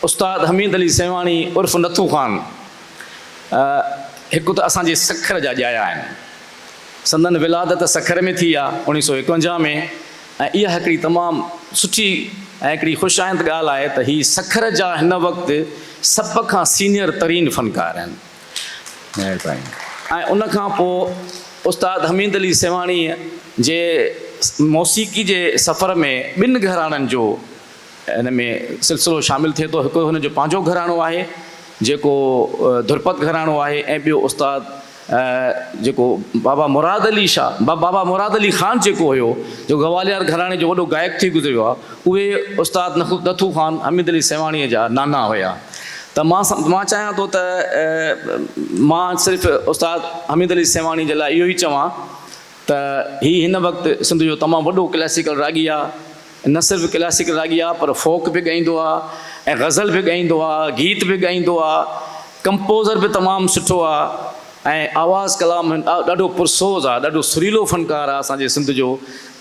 استاد حميد علي سيوهاڻي عرف نٿو خان هڪ ته اسان جي سکر جا ڄايا آهن. سندن ولادت سکر ۾ ٿي آ اوڻيهه سؤ ايڪونجاهه ۾ ۽ اها هڪڙي تمام سٺي ۽ هڪڙي خوش آئند ڳالهه آهي ته هي سکر جا هن وقت سڀ کان سينيئر ترين فنڪار آهن. مهرباني ۽ ان کان پوء استاد حميد علي سيوهاڻي جي موسيقي جي سفر ۾ ٻن گهراڻن جو هن ۾ سلسلو شامل ٿئي ٿو، هڪ هن جو پنهنجو گهراڻو آهي جيڪو ڌرپد گهراڻو آهي ۽ ٻيو استاد جيڪو بابا مراد علي شاهه بابا مراد علي خان جيڪو هيو جيڪو گواليار گهراڻي جو وڏو گائڪ ٿي گذريو آهي اهي استاد نٿو خان حميد علي سيوهاڻي جا نانا هيا ته مان مان چاهيان ٿو ته مان صرف استاد حميد علي سيوهاڻي جي لاء اهو ئي چوان ته هي هن وقت سنڌ جو تمام وڏو ڪلاسيڪل راڳي آهي نه صرف ڪلاسيڪل راڳي آهي پر فوڪ به ڳائيندو آهي ۽ غزل به ڳائيندو آهي، گيت به ڳائيندو آهي، ڪمپوزر به تمام سٺو آهي ۽ آواز ڪلام ڏاڍو پرسوز آهي، ڏاڍو سريلو فنڪار آهي اسان جي سنڌ جو،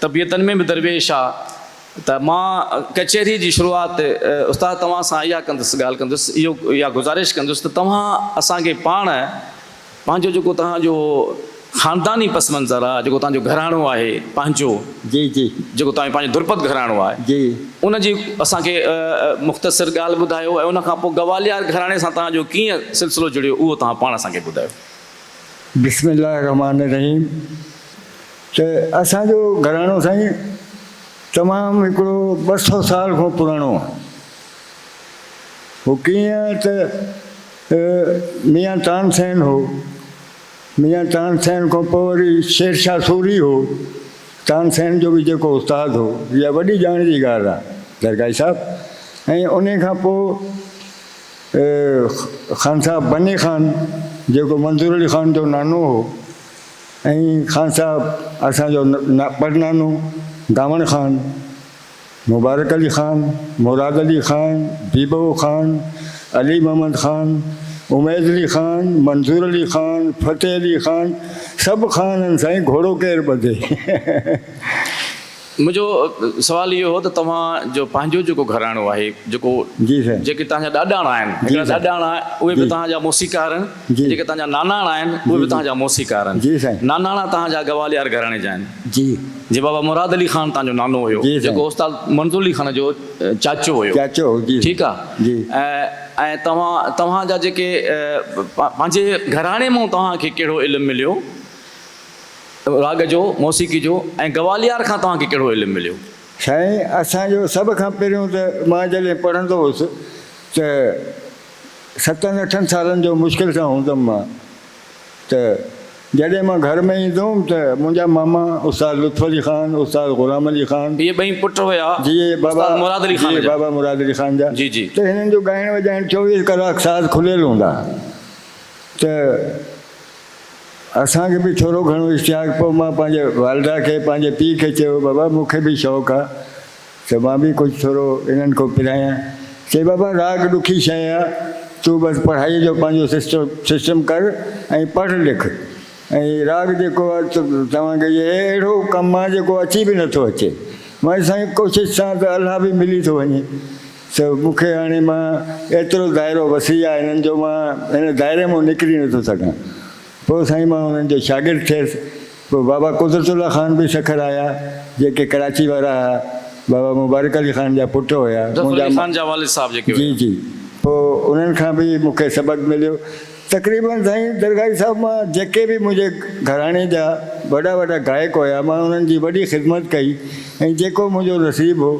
طبيعتن ۾ به درويش آهي ته مان ڪچهري جي شروعات استاد توهان سان اها ڪندس ڳالهه ڪندس اهو اها گذارش ڪندس ته توهان اسان کي پاڻ پنهنجو جيڪو توهان جو خانداني پس منظر آ، جيڪو توهان جو گهراڻو آهي پنهنجو، جي جي. جيڪو توهان جو پنهنجو درپد گهراڻو آهي، جي. ان جي اسان کي مختصر ڳالهه ٻڌايو ۽ ان کان پوء گواليار گهراڻي سان توهان جو ڪيئن سلسلو جڙيو اهو توهان پاڻ اسان کي ٻڌايو. بسم الله الرحمٰن الرحيم ته اسان جو گهراڻو سائين تمام هڪڙو ٻه سؤ سال کان پراڻو آ. هو ڪيئن ته هي ميان تانسين هو. ميان تانسين کان پوء وري شيرشاهه سوري هو. تانسين جو به جيڪو استاد هو. اها وڏي ڄاڻ جي ڳالهه آهي درگاهي صاحب. ۽ انهي کان پوء خانصاحب بني خان جيڪو منظور علي خان جو نانو هو ۽ خانصاحب اسان جو پڙنانو دامڻ خان. مبارڪ علي خان، مراد علي خان، بيبو خان، علي محمد خان، اميد علي خان، منظور علي خان، فتح علي خان سڀ خان آهن سائين گهوڙو ڪير ٻڌي. منهنجو سوال اهو هو ته توهان جو پنهنجو جيڪو گهراڻو آهي جيڪو جي سائين. جيڪي توهان جا ڏاڏاڻا آهن جي هڪڙا سائين ڏاڏاڻا اهي به جي. توهان جا موسيقار آهن. جي. جيڪي تنهنجا ناناڻا آهن، اهي به تنهنجا موسيقار آهن. جي سائين. ناناڻا تنهنجا گواليار گهراڻي جا آهن. جي. جي بابا مراد علي خان تنهنجو نانو هيو، جي سائين. جيڪو استاد منظور علي خان جو چاچو هيو. چاچو هو، جي. ٺيڪ آ. جي. ۽ توهان، توهان جا جيڪي پنهنجي گهراڻي مون توهان کي ڪهڙو علم مليو راڳ جو، موسيقي جو ۽ گواليار کان توهان کي ڪهڙو علم مليو؟ سائين اسان جو سڀ کان پهريون ته مان جڏهن پڙهندو هوس ته ستن اٺن سالن جو مشڪل سان هوندم مان ته جڏهن مان گهر ۾ ايندو هوم ته منهنجا ماما استاد لطف علي خان، استاد غلام علي خان. اهي ٻئي پٽ هيا استاد مراد علي خان جا. جي بابا مراد علي خان جا ته هنن جو ڳائڻ وڄائڻ چوويهه ڪلاڪ ساز کليل هوندا ها ته اسان کي به ٿورو گهڻو اشتياق پوء مان پنهنجي والده کي پنهنجي پيء کي چيو بابا مون کي به شوق آ ته مان به ڪجهه ٿورو انهن کان پرهايان. چي بابا راڳ ڏکي شيء آ، تون بس پڙهائيء جو پنهنجو سسٽم ڪر ۽ پڙهه لک. ۽ راڳ جيڪو آ توهان کي اهي اهڙو ڪم آ جيڪو اچي به نٿو اچي. مان چيس سائين ڪوشش سان ته الها به ملي ٿو وڃي. ته مون کي هاڻي مان ايترو دائرو وسيع آ هنن جو مان هن دائري مان نڪري نٿو سگهان. پوء سائين مان انهن جو شاگرد ٿيس. پوء بابا قدرت الله خان به سکر آيا، جيڪي ڪراچي وارا ها. بابا مبارڪ علي خان جا پٽ هيا. ظفر علي خان جا والد صاحب جيڪي هيا. جي جي. پوء انهن کان به مون کي سبق مليو. تقريبن سائين درگاهي صاحب مان جيڪي به منهنجي گهراڻي جا وڏا وڏا گائڪ هيا، مان انهن جي وڏي خدمت ڪئي ۽ جيڪو منهنجو نصيب هو،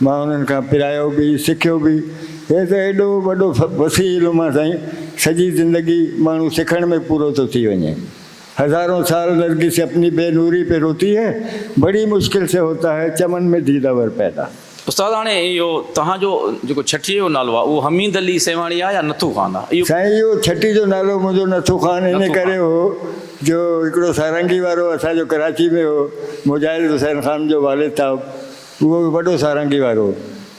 مان انهن کان پرايو به، سکيو به. هي ته ايڏو وڏو وسيع علم آ سائين سڄي زندگي ماڻهو سکڻ ۾ پورو ٿو ٿي وڃي هزارون سال نرگس اپني بي نوري پي روتي هي بڙي مشڪل سي هوتا هي چمن مي ديداور پيدا. استاد هاڻي اهو تهان جو جيڪو ڇٽيء جو نالو آ اهو حميد علي سيوهاڻي آ يا نٿو خان آ اهو. سائين اهو ڇٽي جو نالو منهنجو نٿو خان انهي ڪري هو جو هڪڙو سارنگي وارو اسان جو ڪراچي ۾ هو مجاهد حسين خان جو والد تاب اهو وڏو سارنگي وارو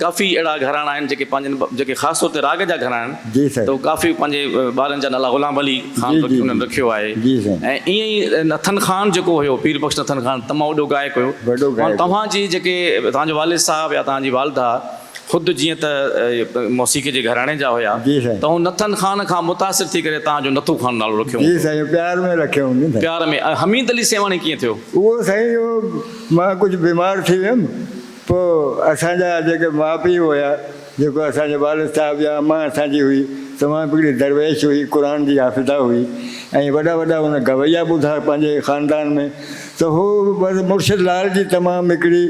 ڪافي اهڙا گهراڻا آهن جيڪي پنهنجن جيڪي خاص طور تي راڳ جا گهراڻا آهن ته اهي ڪافي پنهنجي ٻارن جا نالا غلام علي خان بخش انهن رکيو آهي ۽ ائين ئي نٿن خان جيڪو هيو پير بخش نٿن خان تمام وڏو گائڪ هيو ۽ توهان جي جيڪي توهان جو والد صاحب يا توهان جي والده خود جيئن ته موسيقي جي گهراڻي جا هيا ته هن نٿن خان کان متاثر ٿي ڪري توهان جو نٿو خان نالو رکيو جي سائين پيار ۾ رکيو هوندن پيار ۾ حميد علي سيوهاڻي ڪيئن ٿيو؟ اهو سائين جو مان ڪجهه بيمار ٿي ويم. پوء اسان جا جيڪي ماء پيء هيا، جيڪو اسان جي والد صاحب يا امان اسان جي هئي، تمام هڪڙي درويش هئي، قرآن جي حافظه هئي ۽ وڏا وڏا هن گويا ٻڌا پنهنجي خاندان ۾ ته هو بس مرشد لال جي تمام هڪڙي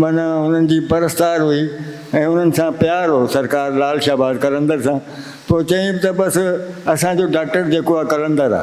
معنيٰ انهن جي پرستار هئي ۽ انهن سان پيار هو سرڪار لال شهباز قلندر سان پوء چيائين ته بس اسان جو ڊاڪٽر جيڪو آ قلندر آ.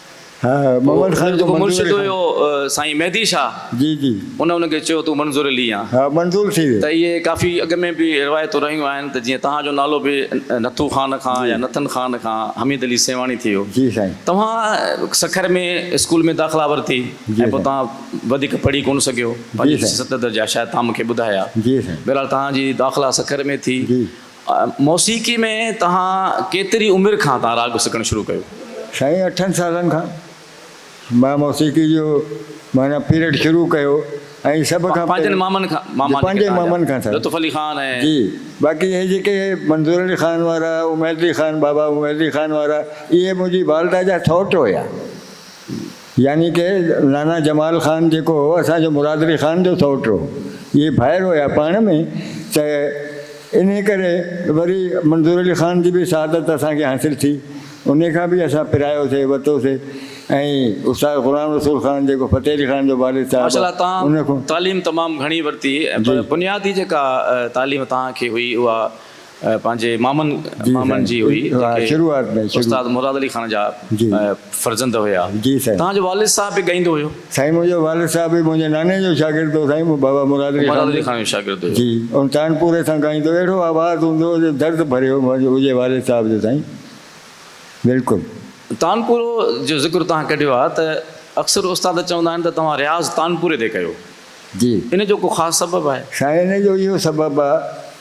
ها محمد خان جو مرشد هيو سائين مهدي شاهه جي جي ان ان کي چيو تون منظور لي آ ها منظور ٿي ويو ته اهي ڪافي اڳ ۾ به روايتون رهيون آهن ته جيئن توهان جو نالو به نٿو خان کان يا نٿن خان کان حميد علي سيوهاڻي ٿي ويو جي سائين توهان سکر ۾ اسڪول ۾ داخلا ورتي ۽ پوء توهان وڌيڪ پڙهي ڪونه سگهيو پنج ست درجا شايد توهان مون کي ٻڌايا جي سائين بهرحال توهان جي داخلا سکر ۾ ٿي جي. موسيقي ۾ توهان ڪيتري عمر کان تان راڳ سکڻ شروع ڪيو؟ سائين اٺن سالن کان مان موسيقي جو معنيٰ پيرڊ شروع ڪيو ۽ سڀ کان پنهنجن مامن کان جي پنهنجي مامن کان سائين لطف علي خان ۽ جي باقي هي جيڪي منظور علي خان وارا اميد علي خان بابا اميد علي خان وارا اهي منهنجي والده جا سئوٽ هيا. يعني ڪه نانا جمال خان جيڪو هو اسان جو مرادعلي خان جو سئوٽ هو اهي ڀائر هيا پاڻ ۾ ته انهي ڪري وري منظورعلي خان جي به سعادت اسان کي حاصل ٿي انهي کان به اسان پرايو سي وتو سي ۽ استاد غلام رسول خان جيڪو فتح علي خان جو والد صاحب ماشاءالله توهان ان کان تعليم تمام گهڻي ورتي پر جي. بنيادي جيڪا تعليم توهان کي هئي اها پنهنجي مامن مامن جي هئي جيڪي استاد مراد علي خان جا فرزند هيا توهان جو والد صاحب به ڳائيندو هيو؟ سائين منهنجو والد صاحب به منهنجي ناني جو شاگرد هو سائين بابا مراد علي خان جو شاگرد هيو جي ان تانپوري سان ڳائيندو اهڙو آواز هوندو هو جو درد ڀريو هجي والد صاحب جو سائين بلڪل. تانپورو جو ذڪر توهان ڪڍيو آهي ته اڪثر استاد چوندا آهن ته توهان رياض تانپوري تي ڪيو ان جو ڪو خاص سبب آهي؟ سائين ان جو اهو سبب آهي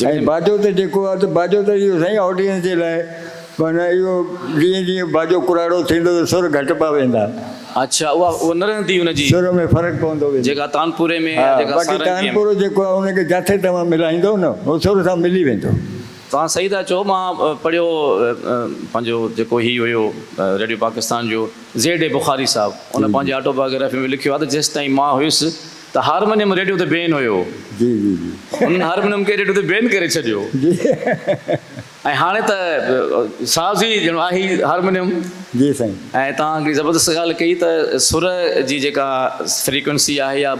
۽ باجو ته جيڪو آهي ته باجو ته اهو سائين آڊينس جي لاء معنيٰ اهو جيئن جيئن باجو ڪراڙو ٿيندو ته سر گهٽبا ويندا. اڇا اها اها نه رهندي ان جي. سر ۾ فرق پوندو ويندو. جيڪا تانپوري ۾ يا جيڪا سارنگي ۾. باقي تانپورو جيڪو آهي ان کي جاٿي توهان ملائيندو نه اهو سر سان ملي ويندو. توهان صحيح ٿا چئو مان پڙهيو پنهنجو جيڪو هي هيو ريڊيو پاڪستان جو زيڊ اي بخاري صاحب ان پنهنجي آٽو بايوگرافي ۾ لکيو آهي ته جيستائين مان هيس ته هارمونيم ريڊيو تي بين هيو. جي جي جي. هنن هارمونيم کي ريڊيو تي بين ڪري ڇڏيو. جي. ۽ هاڻي ته ساز ئي ڄڻ آهي هارمونيم. جي سائين. ۽ توهان هڪڙي زبردست ڳالهه ڪئي ته سر جي جيڪا فريڪوئنسي آهي يا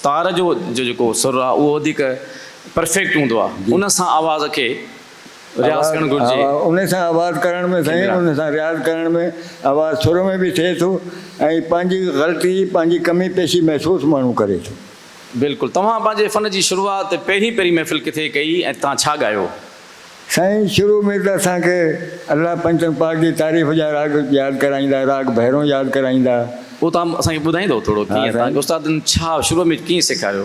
تار جو جيڪو سر آهي اهو وڌيڪ پرفيڪٽ هوندو آهي. ان سان آواز کي رياض ڪرڻ گهرجي. انهي سان آواز ڪرڻ ۾ سائين انهي سان رياض ڪرڻ ۾ آواز سر ۾ به ٿئي ٿو ۽ پنهنجي غلطي پنهنجي ڪمي پيشي محسوس ماڻهو ڪري ٿو. بلڪل توهان پنهنجي فن جي شروعات پهرين پهرين محفل ڪٿي ڪئي ۽ توهان ڇا ڳايو؟ سائين شروع ۾ ته اسان کي الله پنچن پاڪ جي تعريف جا راڳ ياد ڪرائيندا راڳ ڀيرون ياد ڪرائيندا. اهو توهان اسان کي ٻڌائيندو ٿورو ڪيئن توهان کي استادن ڇا شروع ۾ ڪيئن سيکاريو؟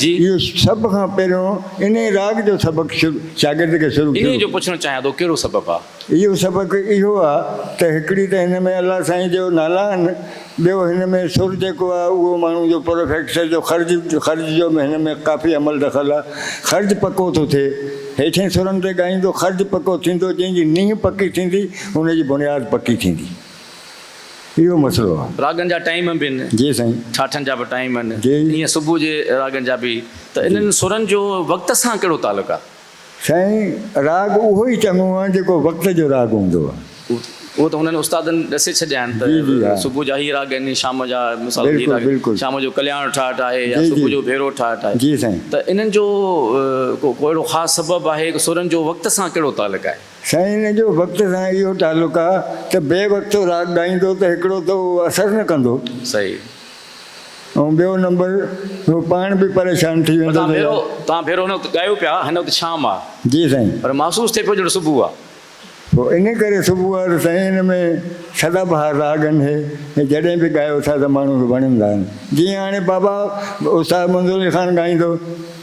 جي. اهو سڀ کان پهريون انهيء راڳ جو سبق شاگرد کي شروع ٿيو. انهيء جو پڇڻ چاهيان ٿو ڪهڙو سبب آ؟ اهو سبق اهو آ ته هڪڙي ته هن ۾ الله سائين جو نالا آهن، ٻيو هن ۾ سر جيڪو آ اهو ماڻهو جو پروفيڪسر جو خرج خرج جو به هن ۾ ڪافي عمل دخل آ. خرج پڪو ٿو ٿئي. هيٺين سرن تي ڳائيندو خرج پڪو ٿيندو، جنهن جي نينهن پڪي ٿيندي، ان جي بنياد پڪي ٿيندي. اهو مسئلو آ. راڳن جا ٽائيم به هن. جي سائين. ٺاٺن جا به ٽائيم هن. جي. ائين صبح جي راڳن جا به. ته جي. انهن سرن جو وقت سان ڪهڙو تعلق آ؟ سائين راڳ اهو ئي چڱو آ جيڪو وقت جو راڳ هوندو آ. اهو ته هنن استادن ڏسي ڇڏيا آهن ته جي جي ها. صبح جا هي راڳ آهن شام جا مثال طور هي بلڪل راڳ بلڪل. شام جو ڪلياڻ ٺاٺ آهي يا جي صبح جي جو ڀيرو ٺاٺ آهي. جي سائين. ته انهن جو ڪو ڪو اهڙو خاص سبب آهي ڪو سرن جو وقت سان ڪهڙو تعلق آهي؟ سائين ان جو وقت سان اهو تعلق آ ته بي وقت راڳ ڳائيندو ته هڪڙو ته اهو اثر نه ڪندو صحيح. ۽ ٻيو نمبر هو پاڻ به پريشان ٿي ويندو ته يار. تان ڀيرو هن وقت ڳايو پيا هن وقت شام آ جي سائين. پر محسوس ٿئي پيو ڄڻ صبح آ. پوء ان ڪري صبح آ ته سائين ان ۾ سدا بهار راڳ ان هي ۾ جڏهن به ڳايو ٿا ته ماڻهن کي وڻن ٿا جيئن هاڻي بابا استاد منظور علي خان ڳائيندو.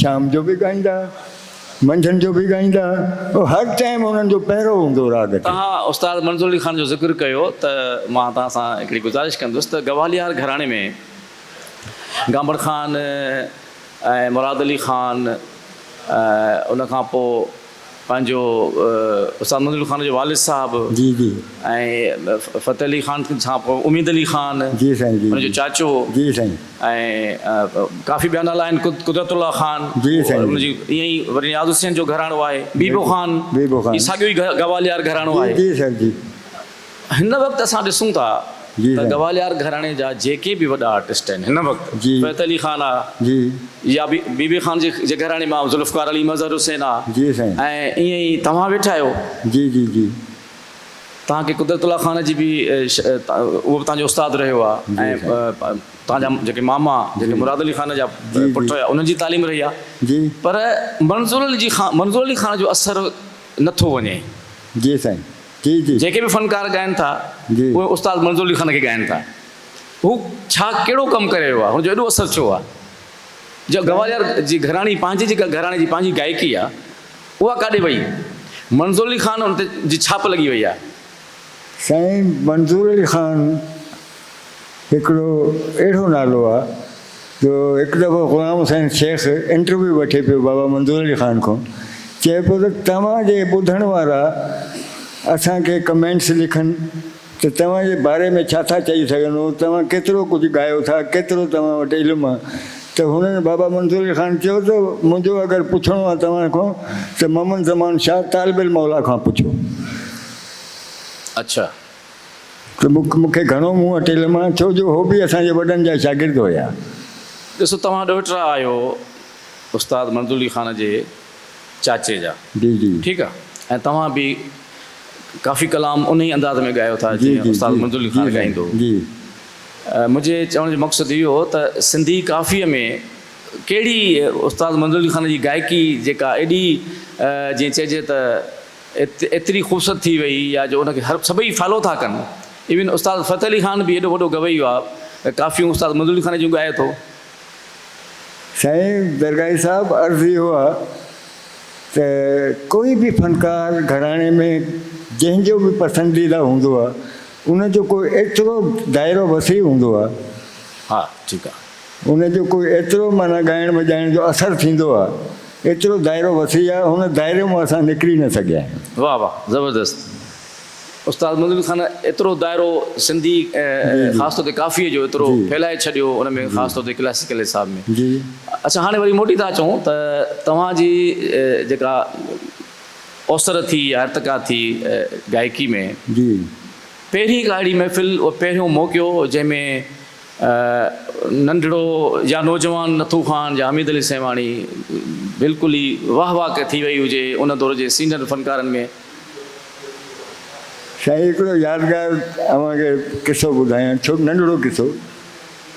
شام جو به ڳائيندا، منجهند جو به ڳائيندا، هر ٽائيم انهن جو پهرو هوندو راڳ تي. توهان استاد منظور علي خان جو ذڪر ڪيو ته مان توهان سان هڪڙي گذارش ڪندس ته گواليار گهراڻي ۾ گامبڙ خان ۽ مراد علي خان ۽ ان کان پوء پنهنجو استاد منظور علي خان جو والد صاحب جي جي ۽ فتح علي خان اميد علي خان جي سائين جي جو چاچو جي سائين ۽ ڪافي ٻيا نالا آهن قدرت الله خان جي سائين ان جي ائين ئي وري نياز حسين جو گهراڻو آهي بيبو خان بيبو خان هي ساڳيو ئي گواليار گهراڻو آهي جي سائين جي هن وقت اسان ڏسون ٿا ته گواليار گهراڻي جا جيڪي به وڏا آرٽسٽ آهن هن وقت فيت علي خان آ يا بي بي خان جي گهراڻي مان ذوالفقار علي مظهر حسين آ ۽ ائين ئي توهان ويٺا آهيو توهان کي قدرت الله خان جي به اهو به توهان جو استاد رهيو آ ۽ توهان جا جيڪي ماما جيڪي مراد علي خان جا پٽ هيا انهن جي تعليم رهي آ پر منظور علي جي خان منظور علي خان جو اثر نٿو وڃي. جيڪي به فنڪار ڳائن ٿا اهي استاد منظور علي خان کي ڳائن ٿا. هو ڇا ڪهڙو ڪم ڪري ويو آهي هن جو ايڏو اثر ڇو آهي. جا گواليار جي گهراڻي پنهنجي جيڪا گهراڻي جي پنهنجي گائڪي آهي اها ڪاڏي وئي منظور علي خان ان تي جي ڇاپ لڳي وئي آهي. سائين منظور علي خان هڪڙو اهڙو نالو آ جو هڪ دفعو غلام حسين شيخ انٽرويو وٺي پيو بابا منظور علي خان کان چئي پيو ته توهان جي ٻڌڻ وارا اسان کي ڪمينٽس لکن ته توهان جي باري ۾ ڇا ٿا چئي سگهن ۽ توهان ڪيترو ڪجهه ڳايو ٿا ڪيترو توهان وٽ علم آ ته هنن بابا منظور علي خان چيو ته منهنجو اگر پڇڻو آ توهان کان ته محمد زمان شاهه طالب الموليٰ کان پڇو. اڇا. ته مون کي گهڻو منهن اٽيل مان ڇو جو هو به اسان جي وڏن جا شاگرد هيا. ڏسو توهان ڏوهٽرا آهيو استاد منظورعلي خان جي چاچي جا جي جي. ٺيڪ آ ۽ توهان به ڪافي ڪلام انهي انداز ۾ ڳايو ٿا جي جيئن جي استاد جي منظورعلي جي خان سائين ڳائيندو هو. جي. منهنجي چوڻ جو مقصد اهو هو ته سنڌي ڪافيء ۾ ڪهڙي استاد منظورعلي خان جي گائڪي جيڪا ايڏي جيئن چئجي ته ايتري خوبصورت ٿي وئي آ جو ان کي هر سڀئي فالو ٿا ڪن ايون استاد فتح علي خان به ايڏو وڏو گويو آ ته ڪافيون استاد منظور علي خان جون ڳائي ٿو. سائين درگاهي صاحب عرض اهو آ ته ڪوئي به فنڪار گهراڻي ۾ جنهن جو به پسنديده هوندو آ ان جو ڪو ايترو دائرو وسيع هوندو آ. ها ٺيڪ آ. ان جو ڪوئي ايترو معنيٰ ڳائڻ وڄائڻ جو اثر ٿيندو آ ايترو دائرو وسيع آ ان دائري مون اسان نڪري نه سگهيا آهيون. واھ واھ زبردست استاد مظلوم خان ايترو دائرو سنڌي ۽ خاص طور تي ڪافيء جو ايترو ڦهلائي ڇڏيو ان ۾ خاص طور تي ڪلاسيڪل حساب ۾ اڇا هاڻي وري موٽي ٿا اچون ته توهان جي جيڪا اوسر ٿي يا ارتقا ٿي گائڪي ۾ پهرين ڪا اهڙي محفل پهريون موقعو جنهن ۾ ننڍڙو يا نوجوان نٿو خان يا حميد علي سيوهاڻي بلڪل ئي واه واه ڪي ٿي وئي هجي ان دور جي سينئر فنڪارن ۾. سائين هڪڙو يادگار اوهان کي قصو ٻڌايان ڇو ننڍڙو قصو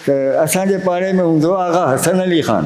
ته اسان جي پاڙي ۾ هوندو آغا حسن علي خان.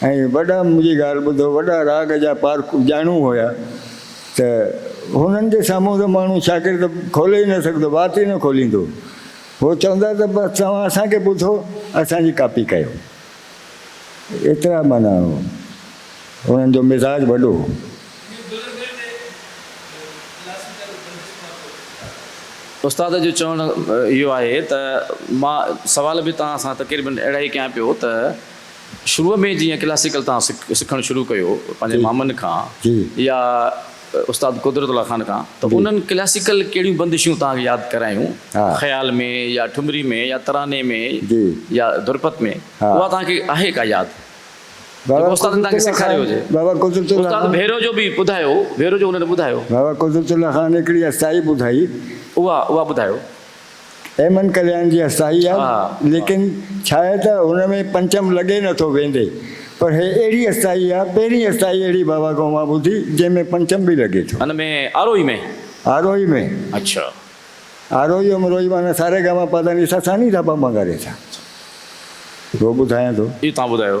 ۽ وڏا منهنجي ڳالهه ٻڌو وڏا راڳ جا پارکو ڄاڻو هيا ته هنن جي سامهون ته ماڻهو شاگرد کولي ئي نه سگهندو وات ئي نه کوليندو هو چوندا ته بس توهان اسان کي ٻڌو اسان جي ڪاپي ڪيو ايترا معنيٰ هنن جو مزاج وڏو هو. استاد جو چوڻ اهو آهي ته مان سوال به توهان سان تقريبن اهڙا ئي ڪيان پيو ته. شروع ۾ جيئن ڪلاسيڪل تان سکڻ شروع ڪيو پنهنجي مامن کان يا استاد قدرت الله خان کان ته انهن ڪلاسيڪل ڪهڙيون بندشون تان کي ياد ڪرايون خيال ۾ يا ٺمري ۾ يا تراني ۾ يا ڌرپت ۾ اها تان کي آهي ڪا ياد جيڪو استادن تان کي سکاريو هجي استاد ڀيرو جو به ٻڌايو ڀيرو جو انهن ٻڌايو بابا قدرت الله خان هڪڙي استائي ٻڌائي اها اها ٻڌايو. ايمن ڪلياڻ جي هستائي آهي، ليڪن ڇاهي ته هن ۾ پنچم لڳي نه ٿو ويندي، پر هي اهڙي هستائي آهي، پهرين هستائي اهڙي بابا کان مان ٻڌي، جنهن ۾ پنچم به لڳي ٿو. هن ۾ آروهي ۾؟ آروهي ۾. اڇا. آروهي امروهي معنيٰ ساري گاما پاڌانيسا سانيڌاپاماڳاريسا. اهو ٻڌايان ٿو. اهو توهان ٻڌايو.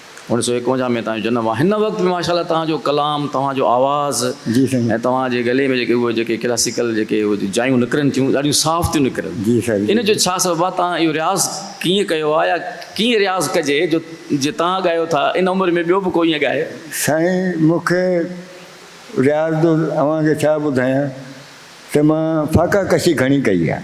اڻ سو ايڪونجاهه ۾ توهان جو جنم آهي هن وقت به ماشاءالله توهان جو ڪلام توهان جو آواز جي سائين ۽ توهان جي گلي ۾ جيڪي اهي جيڪي ڪلاسيڪل جيڪي اهي جايون نڪرن ٿيون ڏاڍيون صاف ٿيون نڪرن جي سائين جي ان جو ڇا سبب آهي توهان اهو رياض ڪيئن ڪيو آهي يا ڪيئن رياض ڪجي جو جي توهان ڳايو ٿا ان عمر ۾ ٻيو به ڪو ائين ڳائي سائين مون کي رياض جو اوهان کي ڇا ٻڌايان ته مان فاقا ڪشي گهڻي ڪئي آهي.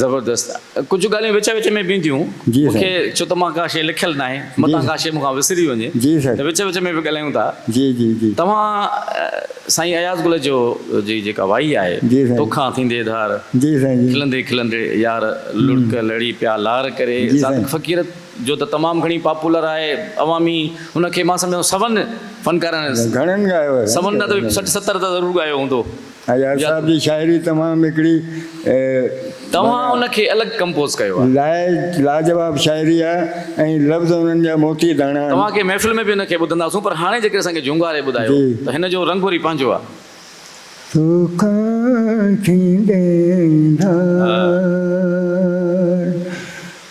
زبردست ڪجهه ڳالهيون وچ وچ ۾ به اينديون مون کي ڇو ته مان ڪا شيء لکيل ناهي متان ڪا شيء مون کان وسري وڃي ته وچ وچ ۾ به ڳالهايون ٿا توهان سائين اياز گل جو جي جيڪا وائي آهي توکان ٿيندي ڌار کلندي کلندي يار لڙڪ لڙي پيا لار ڪري صادق فقير جو ته تمام گهڻي پاپولر آهي عوامي ان کي مان سمجهان ٿو سون فنڪارن سون نه ته سٺ ستر ته ضرور ڳايو هوندو. اياز صاحب جي شاعري تمام هڪڙي توهان ان کي الڳ ڪمپوز ڪيو آهي. لاء لاجواب شاعري آهي ۽ لفظ انهن جا موتي داڻا آهن. توهان کي محفل ۾ به ان کي ٻڌنداسون پر هاڻي جيڪڏهن اسان کي جهونگاري ٻڌايو ته هن جو رنگ وري پنهنجو آهي. توکان ٿيندي ڌار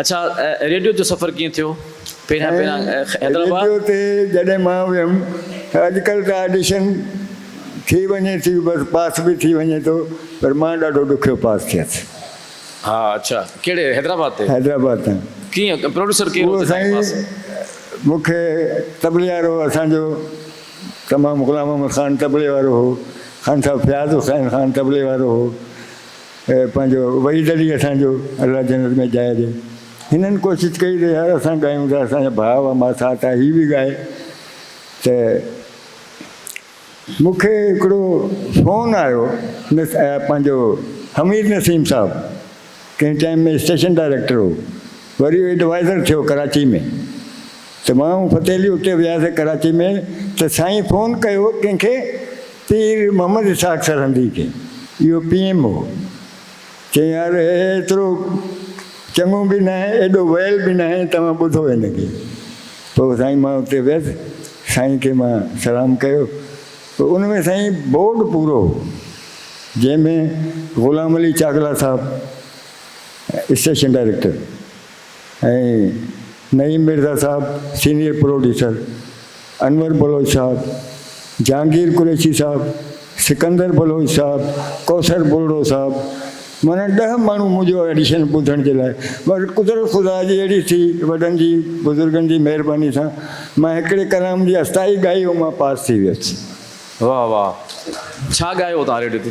اڇا ريڊيو تي سفر ڪيئن ٿيو پهريان پهريان حيدرآباد. ريڊيو تي جڏهن مان ويم ته اڄڪلهه ته آڊيشن ٿي وڃي ٿي بس پاس به ٿي وڃي ٿو پر مان ڏاڍو ڏکيو پاس ٿيس. ها اڇا ڪهڙي حيدرآباد تي. حيدرآباد تان. ڪيئن پروڊيوسر ڪير هو اهو تنهنجي سائين پاس. مک طبلي وارو اسان جو تمام غلام محمد خان طبلي وارو هو خان صاحب فياض حسين خان طبلي وارو هو. پنهنجو وحيد علي اسان جو الله جنت ۾ جاء ڏي هنن ڪوشش ڪئي ته يار اسان ڳايون ته اسان جا ڀاء هئا ما ساٿ آ هي به ڳائي ته مون کي هڪڙو فون آيو پنهنجو حميد نسيم صاحب ڪنهن ٽائيم ۾ اسٽيشن ڊائريڪٽر هو وري ايڊوائزر ٿيو ڪراچي ۾ ته مان فتحعلي اتي وياسي ڪراچي ۾ ته سائين فون ڪيو ڪنهن کي پير محمد اسحاق سرهندي کي اهو پي ايم هو چيائين يار هي ايترو چڱو به ناهي ايڏو ويل به ناهي توهان ٻڌو هن کي پوء سائين مان اتي ويس سائين کي مان سلام ڪيو پوء ان ۾ سائين بورڊ پورو هو جنهن ۾ غلام علي چاڪلا صاحب اسٽيشن ڊائريڪٽر ۽ نعيم مرزا صاحب سينيئر پروڊيوسر، انور بلوچ صاحب، جهانگير قريشي صاحب، سڪندر بلوچ صاحب، ڪوثر ٻرڙو صاحب معنيٰ ڏهه ماڻهو منهنجو ايڊيشن ٻڌڻ جي لاء پر قدرت خدا جي اهڙي ٿي وڏن جي بزرگن جي مهرباني سان مان هڪڙي ڪلام جي استائي ڳائي هو مان پاس ٿي ويس. واھ واھ ڇا ڳايو هو توهان ريڊيو تي.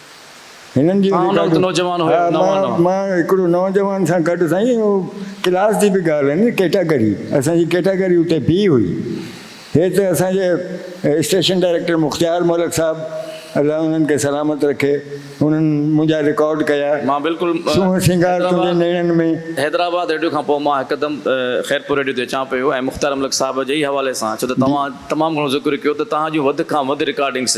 هنن جون رڪارڊون مان هڪڙو نوجوان سان گڏ سائين اهو ڪلاس جي به ڳالهه نه ڪيٽاگري اسان جي ڪيٽاگري اتي بي هئي هي ته اسان جي اسٽيشن ڊائريڪٽر مختيار ملڪ صاحب الله انهن کي سلامت رکي انهن منهنجا رڪارڊ ڪيا سونهن سينگار تنهنجي نيڻن ۾. حيدرآباد ريڊيو کان پوء مان هڪدم خيرپور ريڊيو تي اچان پيو ۽ مختيار ملڪ صاحب جي ئي حوالي سان ڇو ته توهان تمام گهڻو ذڪر ڪيو ته توهان جون وڌ کان وڌ رڪارڊنگس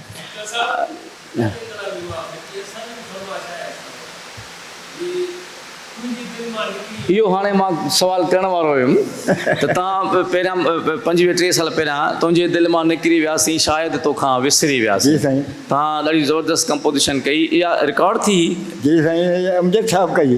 اهو هاڻي مان سوال ڪرڻ وارو هيم ته توهان پهريان پنجويهه ٽيهه سال پهريان تنهنجي دل مان نڪري وياسين شايد توکان وسري وياسين. جي سائين. توهان ڏاڍي زبردست ڪمپوزيشن ڪئي اها رڪارڊ ٿي هي؟ جي سائين اها امجد صاحب ڪئي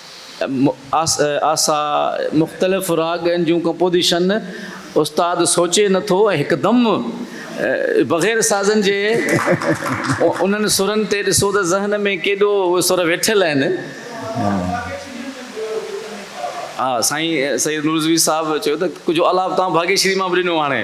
آسا، مختلف راڳن جون ڪمپوزيشن استاد سوچي نه ٿو ۽ هڪدم بغير سازن جي انهن سرن تي ڏسو ته ذهن ۾ ڪيڏو اهي سر ويٺل آهن. ها سائين سيد نورزوي صاحب چيو ته ڪجهه آلاپ توهان ڀاڳيشري مان به ڏنو آهي.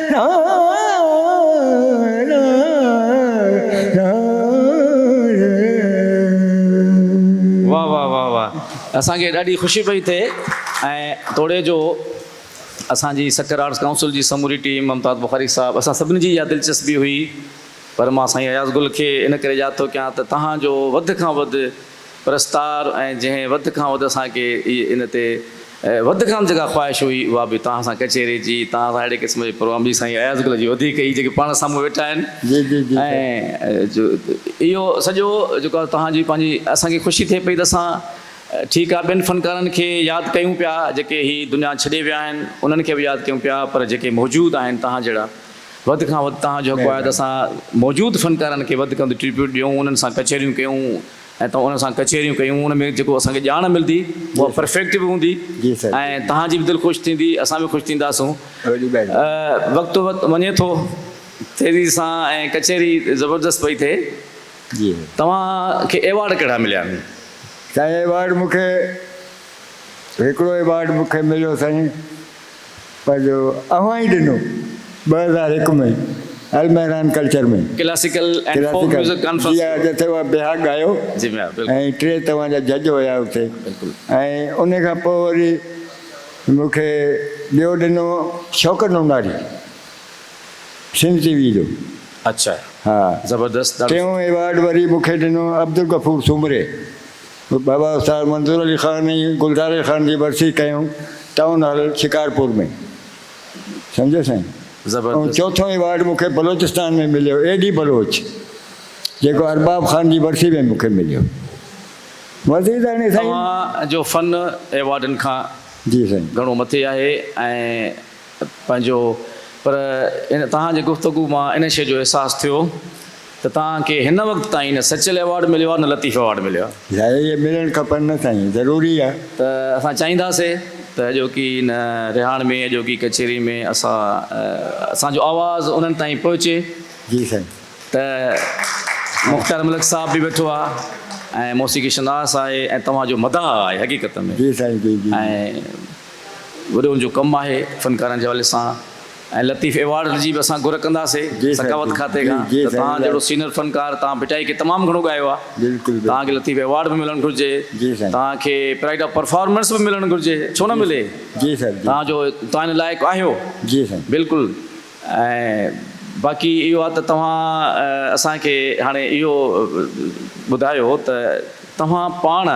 اسان کي ڏاڍي خوشي پئي ٿئي ۽ توڙي جو اسان جي سکر آرٽس ڪائونسل جي سموري ٽيم ممتاز بخاري صاحب اسان سڀني جي اها دلچسپي هئي پر مان سائين اياز گل کي ان ڪري ياد ٿو ڪيان ته توهان جو وڌ کان وڌ پرستار ۽ جنهن وڌ کان وڌ اسان کي ان تي وڌ کان وڌ جيڪا خواهش هئي اها به توهان سان ڪچهري جي توهان سان اهڙي قسم جو پروگرام جي سائين اياز گل جي وڌيڪ هئي جيڪي پاڻ سامهون ويٺا آهن ۽ اهو سڄو جيڪو آهي توهان جي پنهنجي اسان کي خوشي ٿئي پئي ته اسان ٺيڪ آهي ٻين فنڪارن کي ياد ڪيون پيا جيڪي هي دنيا ڇڏي ويا آهن انهن کي به ياد ڪيون پيا پر جيڪي موجود آهن توهان جهڙا وڌ کان وڌ توهان جو حق آهي ته اسان موجود فنڪارن کي وڌ کان وڌ ٽريبيوٽ ڏيون انهن سان ڪچهريون ڪيون ۽ توهان انهن سان ڪچهريون ڪيون ان ۾ جيڪو اسان کي ڄاڻ ملندي اها پرفيڪٽ به هوندي ۽ توهان جي به دل خوش ٿيندي اسان به خوش ٿينداسون وقت وڃي ٿو تيزي سان ۽ ڪچهري زبردست پئي ٿئي توهان کي ايوارڊ ڪهڙا مليا آهن؟ سائين ايوارڊ مون کي هڪڙو ايوارڊ مون کي مليو سائين پر جو اوهان ئي ڏنو ٻه هزار هڪ ۾ Almehran culture ۾ classical ۽ folk classical music conference جي ٿيو. جتي اها بيهاڪ ڳايو جي ميان بلڪل ۽ ٽي توهان جا جج هيا اتي بلڪل. ۽ ان کان پوء وري مون کي ٻيو ڏنو شوڪت نوناري سنڌ ٽي وي جو اڇا ها زبردست ڏاڍو ٽيون ايوارڊ وري مون کي ڏنو عبدالغفور سومري. بابا استاد منظور علي خان ۽ گلزاري خان جي ورسي ڪيون ٽائون هال شڪارپور ۾ سمجهيو سائين ۽ زبردست چوٿون ايوارڊ مون کي بلوچستان ۾ مليو اي ڊي بلوچ جيڪو ارباب خان جي ورسي ۾ مون کي مليو وزير ڌڻي سائين توهان جو فن ايوارڊن کان جي سائين گهڻو مٿي آهي ۽ پنهنجو پر هن توهان جي گفتگو مان ان شيء جو احساس ٿيو ته توهان کي هن وقت تائين نه سچل ايوارڊ مليو آهي نه لطيف ايوارڊ مليو آهي. ظاهر اهي ملڻ کپن نه سائين ضروري آهي. ته اسان چاهينداسي ته اڄوڪي هن رهاڻ ۾ اڄوڪي ڪچهري ۾ اسان اسان جو آواز انهن تائين پهچي. جي سائين. ته مختيار ملڪ صاحب به ويٺو آهي ۽ موسيقي شناس آهي ۽ توهان جو مداح آهي حقيقت ۾. جي سائين جي جي. ۽ وڏن جو ڪم آهي فنڪارن جي حوالي سان ۽ لطيف ايوارڊ جي به اسان گهر ڪنداسي ثقافت کاتي کان ته توهان جهڙو سينئر فنڪار توهان ڀٽائي کي تمام گهڻو ڳايو آهي توهان کي لطيف ايوارڊ به ملڻ گهرجي توهان کي پرائيڊ آف پرفارمنس به ملڻ گهرجي ڇو نه ملي توهان جو توهان ان لائق آهيو بلڪل ۽ باقي اهو آهي ته توهان اسان کي هاڻي اهو ٻڌايو ته توهان پاڻ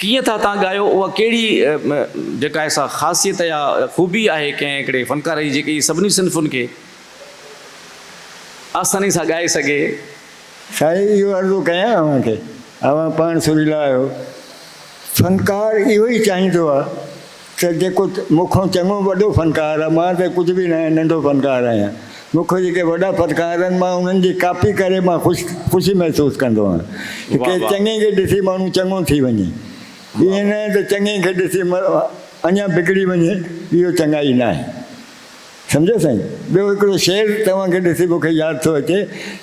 ڪيئن ٿا تان ڳايو اها ڪهڙي جيڪا ايسا خاصيت يا خوبي آهي ڪنهن هڪڙي فنڪار جي جيڪي سڀني صنفن کي آساني سان ڳائي سگهي. سائين اهو عرضو ڪيان اوهان کي اوهان پاڻ سريلا آهيو فنڪار اهو ئي چاهيندو آهي ته جيڪو مون کان چڱو وڏو فنڪار آ، مان ته ڪجهه به ناهيان، ننڍو فنڪار آهيان. مون کان جيڪي وڏا فنڪار آهن، مان انهن جي ڪاپي ڪري مان خوش خوشي محسوس ڪندو آهيان. ته ڪنهن چڱي کي ڏسي ماڻهو چڱو ٿي وڃي. ائين ناهي ته چڱي کي ڏسي اڃا بگڙي وڃي، اهو چڱائي ناهي. سمجهيو سائين. ٻيو هڪڙو شعر توهان کي ڏسي مون کي ياد ٿو اچي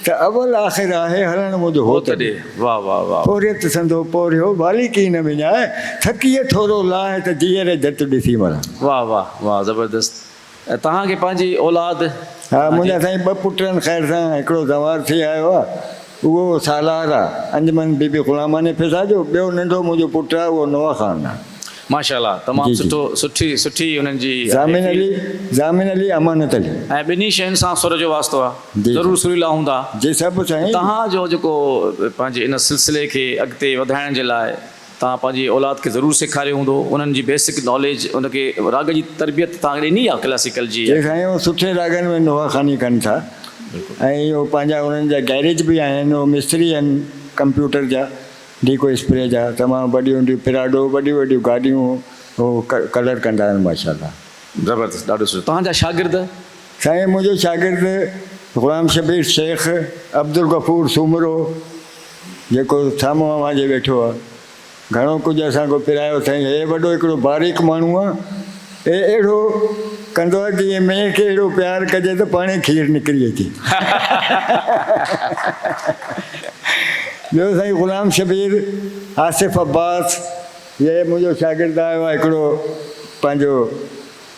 ته اول آخر آهي هلڻ مند هو ته ڏي. واهه واهه واهه. پورهيت سندو پورهيو والي ڪي نه وڃاء ٿڪيء ٿورو لاهه ته جيئري جت ڏسي مران. واهه واهه واهه زبردست ۽ توهان کي پنهنجي اولاد. ها منهنجا سائين ٻه پٽ آهن خير سان هڪڙو زوار ٿي آيو آهي. اهو سالار آ انجمن بي بي غلاماني فضا جو ٻيو ننڍو منهنجو پٽ آ اهو نوح خان آ. ماشاء الله تمام جي جي. سٺو سٺي سٺي انهن جي آهي ضامن فيل. علي ضامن علي امانت علي. ۽ ٻنهي شين سان سر جو واسطو آ جي جي ضرور سريلا هوندا جي سڀ ته سائين. تهان جو جيڪو پنهنجي ان سلسلي کي اڳتي وڌائڻ جي لاء توهان پنهنجي اولاد کي ضرور سيکاريو هوندو انهن جي بيسڪ ناليج ان کي راڳ جي تربيت توهان کي ڏني آهي ڪلاسيڪل جي. جي سائين هو سٺي راڳن ۾ نواخاني ڪن ٿا ۽ اهو پنهنجا انهن جا گئريج به آهن هو مستري آهن ڪمپيوٽر جا ڊيڪو اسپري جا تمام وڏيون وڏيون پراڊو وڏيون وڏيون گاڏيون هو ڪلر ڪندا آهن ماشاء الله. زبردست ڏاڍو سٺو توهان جا شاگرد. سائين منهنجو شاگرد غلام شبير شيخ عبدالغفور سومرو جيڪو سامهون اوهان جي ويٺو آ گهڻو ڪجهه اسان کي پرايو سائين هي وڏو هڪڙو باريڪ ماڻهو آ هي اهڙو ڪندو آ جيئن مينهن کي اهڙو پيار ڪجي ته پاڻهي کير نڪري اچي ٻيو سائين غلام شبير آصف عباس هي منهنجو شاگرد آ اهو هڪڙو پنهنجو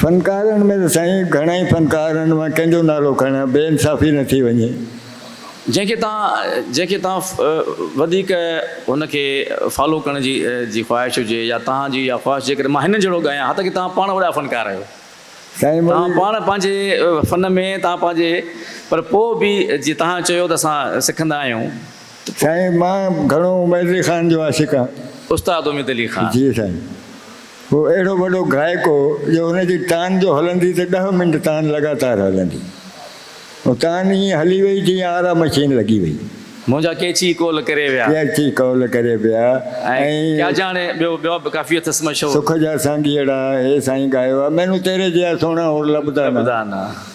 فنڪارن ۾ ته سائين گهڻا ئي فنڪار آهن، مان ڪنهن جو نالو کڻان، بي انصافي نه ٿي وڃي. جنهن کي توهان جنهن کي توهان وڌيڪ هن کي فالو ڪرڻ جي جي خواهش هجي يا توهان جي اها خواهش جيڪڏهن مان هنن جهڙو ڳايان حتيٰ ڪي توهان پاڻ وڏا فنڪار آهيو سائين توهان مولوي پاڻ پنهنجي فن ۾ توهان پنهنجي پر پوء به جي توهان چيو ته اسان سکندا آهيون. سائين مان گهڻو عميد علي خان جو عاشق آهيان. استاد اميد علي خان. جي سائين. هو اهڙو وڏو گائڪ هو جو هن جي تان جو هلندي ته ڏهه منٽ تان لڳاتار هلندي. هو تان ائين هلي وئي جيئن آرا مشين لڳي وئي. منهنجا ڪيچي قول ڪري ويا. ڪيچي قول ڪري ويا ۽. ڪيا جاڻي ٻيو ٻيا به ڪافي اٿس مشهور. سک جا سانگيئڙا هي سائين ڳايو آهي. مينون تيري جيا سهڻا هور لڀدا نه. لڀدا نه.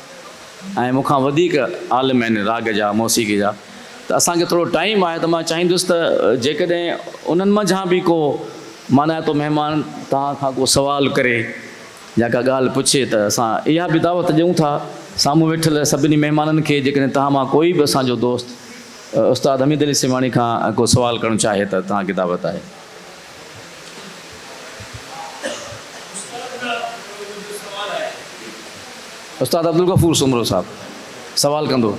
۽ مون کان وڌيڪ عالم آهن راڳ جا موسيقي جا ته اسان کي ٿورو ٽائيم آهي ته مان چاهيندس ته جيڪڏهن انهن منجهان به ڪو مانائتو مهمان توهان کان ڪو سوال ڪري يا ڪا ڳالهه پڇي ته اسان اها به دعوت ڏيون ٿا سامهون ويٺل سڀني مهمانن کي جيڪڏهن توهان مان ڪوئي به اسان جو دوست استاد حميد علي سيوهاڻي کان ڪو سوال ڪرڻ چاهي ته توهان کي دعوت آهي. استاد عبدالغفور سومرو صاحب سوال ڪندو.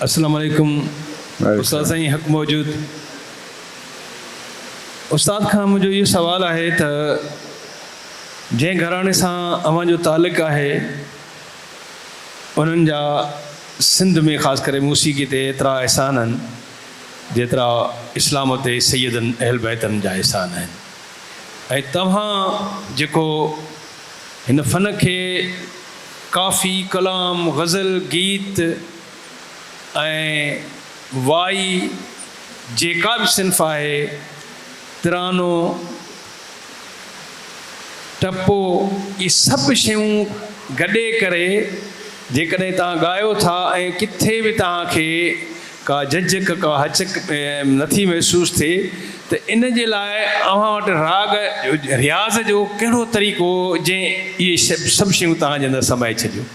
اسلام عليڪم استاد سائين حق موجود استاد کان منهنجو اهو سوال آهي ته جنهن گهراڻي سان اوهان جو تعلق آهي، انهن جا سنڌ ۾ خاص ڪري موسيقي تي ايترا احسان آهن، جيترا اسلام تي سيدن اهلبيتن جا احسان آهن ۽ توهان جيڪو هن فن کي ڪافي، ڪلام، غزل، گيت ۽ وائي جيڪا به صنف آهي، ترانو، ته پوء اهي سڀ شيون گڏي ڪري جيڪڏهن توهان ڳايو ٿا ۽ ڪٿي به توهان کي ڪا جهجڪ، ڪا هچڪ نٿي محسوس ٿئي ته ان جي لاء اوهان وٽ راڳ، رياض، جو ڪهڙو طريقو جنهن اهي سڀ شيون توهان جي اندر سمائي ڇڏيون.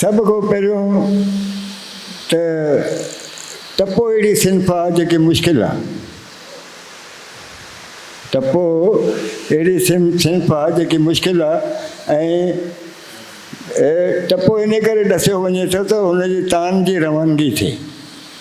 سڀ کان پهريون ته ٽپو اهڙي صنف آ جيڪي مشڪل آ. ٽپو اهڙي صنف آ جيڪي مشڪل آ ۽ ٽپو انهي ڪري ڏسيو وڃي ٿو ته ان جي تان جي روانگي ٿئي.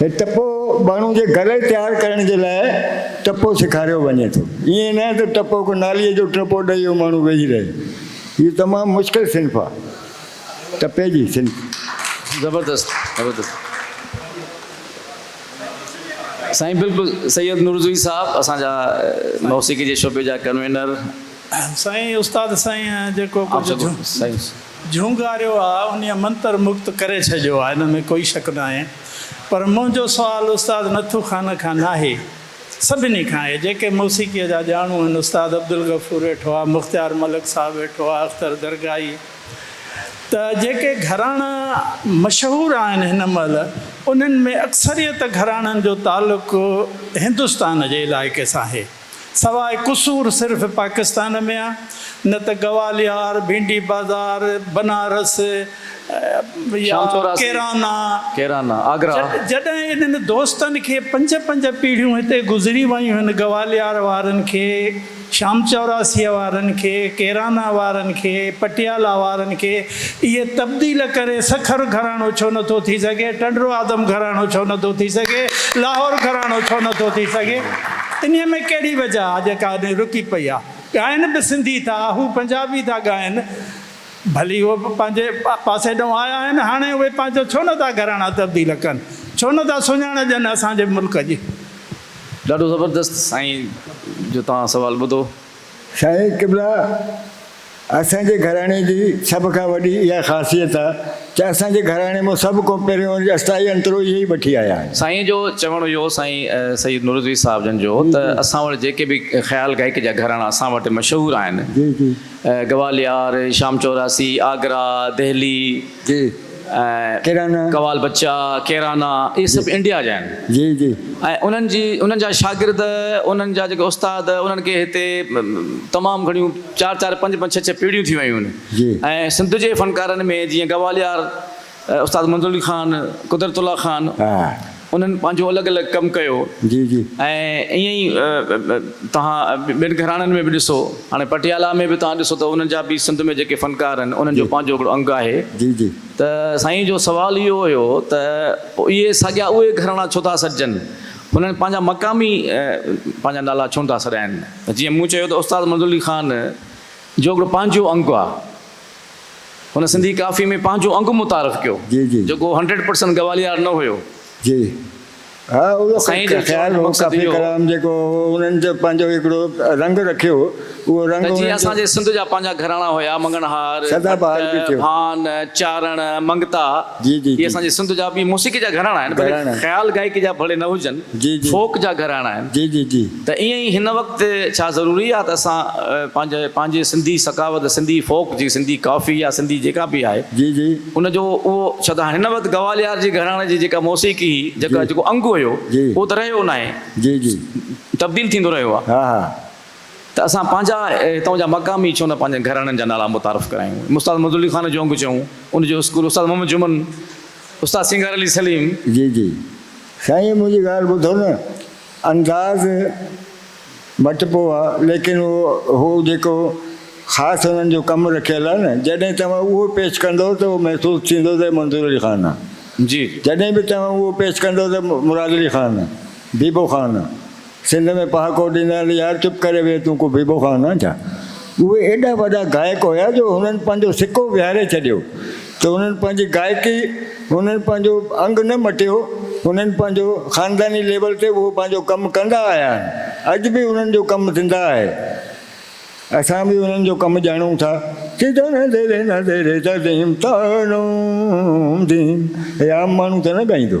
هي ٽپو ٻانهو جي گلي تيار ڪرڻ جي لاء ٽپو سيکاريو وڃي ٿو. ائين نه ته ٽپو ڪو ناليء جو ٽپو ڏئي اهو ماڻهو ويهي رهي. هيء تمام مشڪل صنف آهي. ٽپي جي صنف. زبردست زبردست سائين بلڪل سيد نورزوي صاحب اسان جا موسيقي جي شعبي جا ڪنوينر. سائين استاد سائين جيڪو ڪجهه. جهونگاريو آ انهي منتر مگت ڪري ڇڏيو آ ان ۾ ڪوئي شڪ ناهي پر منهنجو سوال استاد نٿو خان کان ناهي سڀني کان آهي جيڪي موسيقي جا ڄاڻو آهن استاد عبدالغفور ويٺو آ مختيار ملڪ صاحب ويٺو آ اختر درگاهي ته جيڪي گهراڻا مشهور آهن هن مهل انهن ۾ اڪثريت گهراڻن جو تعلق هندستان جي علائقي سان آهي. سواء قصور صرف پاڪستان ۾ آ نه ته گواليار، ڀينڊي بازار، بنارس يا ڪيرانا. جڏهن انهن دوستن کي پنج پنج پيڙهيون هتي گذري ويون هن گواليار وارن کي، شام چوراسيء وارن کي، ڪيرانا وارن کي، پٽيالا وارن کي اهي تبديل ڪري سکر گهراڻو ڇو نه ٿو ٿي سگهي، ٽنڊو آدم گهراڻو ڇو نه ٿو ٿي سگهي، لاهور گهراڻو ڇو نه ٿو ٿي سگهي؟ انهيء ۾ ڪهڙي وجهه آ جيڪا اڏي رڪي پئي آ؟ ڳائن به سنڌي ٿا، هو پنجابي ٿا ڳائن، ڀلي هو به پنهنجي پاسي ڏانهن آيا آهن، هاڻي اهي پنهنجا ڇو نه ٿا گهراڻا تبديل ڪن، ڇو نه ٿا سڃاڻ ڏين اسان جي ملڪ جي؟ ڏاڍو زبردست سائين جو توهان سوال ٻڌو. سائين قبلا اسان جي گهراڻي جي سڀ کان وڏي اها خاصيت آ ته اسان جي گهراڻي مان سڀ کان پهريون جي استائي انترو اهي ئي وٺي آيا آهن. سائين جو چوڻ اهو هو سائين سيد نورالعزيز صاحب جن جو ته اسان وٽ جيڪي به خيال گائڪ جا گهراڻا اسان وٽ مشهور آهن گواليار، شام چوراسي، آگرا، دهلي. ڪيرانا. قوال بچا، ڪيرانا اهي سڀ انڊيا جا آهن. جي جي. ۽ انهن جي انهن جا شاگرد انهن جا جيڪي استاد انهن کي هتي تمام گهڻيون چار چار پنج پنج ڇهه ڇهه پيڙهيون ٿي ويون آهن جي. ۽ سنڌ جي فنڪارن ۾ جيئن گواليار استاد منظور علي خان، قدرت الله خان. انهن پنهنجو الڳ الڳ ڪم ڪيو ۽ ائين ئي توهان ٻين گهراڻن ۾ به ڏسو هاڻي پٽيالا ۾ به توهان ڏسو ته انهن جا به سنڌ ۾ جيڪي فنڪار آهن انهن جو پنهنجو هڪڙو انگ آهي ته سائين جو سوال اهو هيو ته اهي ساڳيا اهي گهراڻا ڇو ٿا سڏجن هنن پنهنجا مقامي پنهنجا نالا ڇو نٿا سڏائن ته جيئن مون چيو ته استاد منظور علي خان جو هڪڙو پنهنجو انگ آهي. هن سنڌي ڪافيء ۾ پنهنجو انگ متعارف ڪيو، جيڪو هنڊريڊ پرسنٽ گواليار نه هيو. جي ها، اهو خيال هو ڪافي ڪلام جيڪو هو، انهن جو پنهنجو هڪڙو رنگ رکيو، اهو رنگ انهن جو. اسان جي سنڌ جا پنهنجا گهراڻا هيا، مڱڻهار، ڀٽ، ڀان، چارڻ، منگتا، اهي اسان جي سنڌ جا به موسيقي جا گهراڻا آهن، ڀلي خيال گائڪي جا ڀلي نه هجن، فوڪ جا گهراڻا آهن. ته ائين ئي هن وقت ڇا ضروري آهي ته اسان پنهنجي پنهنجي سنڌي ثقافت سنڌي فوڪ جي سنڌي ڪافي يا سنڌي جيڪا به آهي جي جي. ان جو اهو ڇا ته هن وقت گواليار جي گهراڻي جي جيڪا موسيقي هئي جيڪا جي جيڪو انگ هيو جي اهو ته رهيو ناهي جي جي. تبديل ٿيندو رهيو آهي ها ها. ته اسان پنهنجا هتان جا مقامي ڇو نه پنهنجن گهراڻن جا نالا متعارف ڪرايون استاد منظور علي خان جو انگ چئون ان جو اسڪول استاد محمد جمن استاد سينگار علي سليم. جي جي سائين منهنجي ڳالهه ٻڌو نه. انداز مٽبو آ ليڪن اهو جيڪو خاص هنن جو ڪم رکيل آ نه جڏهن توهان اهو پيش ڪندؤ ته اهو محسوس ٿيندو ته هي منظور علي خان آ جي جڏهن به توهان اهو پيش ڪندؤ ته مراد علي خان آ بيبو خان آ سنڌ ۾ پهاڪو ڏيندا آهن يار چپ ڪري ويهه تون ڪو بيبو خان آ ڇا اهي ايڏا وڏا گائڪ هيا جو هنن پنهنجو سڪو ويهاري ڇڏيو ته هنن پنهنجي گائڪي هنن پنهنجو انگ نه مٽيو هنن پنهنجو خانداني ليول تي اهو پنهنجو ڪم ڪندا آيا آهن اڄ به هنن جو ڪم زنده آهي اسان به هنن جو ڪم ڄاڻون ٿا ته دن ديري نه ديري ته ديم تانوم ديم هي عام ماڻهو ته نه ڳائيندو.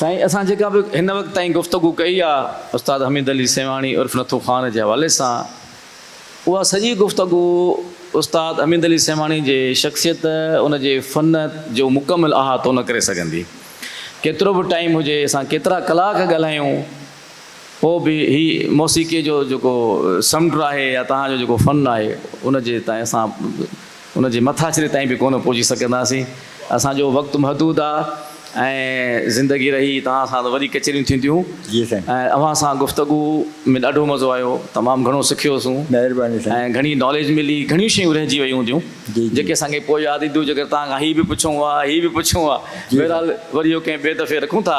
سائين اسان جيڪا به هن وقت تائين گفتگو ڪئي آ استاد حميد علي سيوهاڻي عرف نٿو خان جي حوالي سان اها سڄي گفتگو استاد حميد علي سيوهاڻي جي شخصيت ان جي فن جو مڪمل احاطو نه ڪري سگهندي ڪيترو به ٽائيم هجي اسان ڪيترا ڪلاڪ ڳالهايون پوء به هي موسيقيء جو جيڪو سمنڊ آهي يا توهان جو جيڪو فن آهي، ان جي تائين اسان ان جي مٿاڇري تائين به ڪونه پهچي سگهنداسين. اسان جو وقت محدود آ ۽ زندگي رهي توهان سان ته وري ڪچهريون ٿينديون جي سائين. ۽ اوهان سان گفتگو ۾ ڏاڍو مزو آيو، تمام گهڻو سکيو سون مهرباني سائين. ۽ گهڻي ناليج ملي، گهڻيون شيون رهجي ويون هونديون جي جي. جيڪي اسان کي پوء ياد اينديون، جيڪر توهان کان هي به پڇون ها، هي به پڇون ها، جي سائين. بهرحال وري اهو ڪنهن ٻئي دفعي رکون ٿا.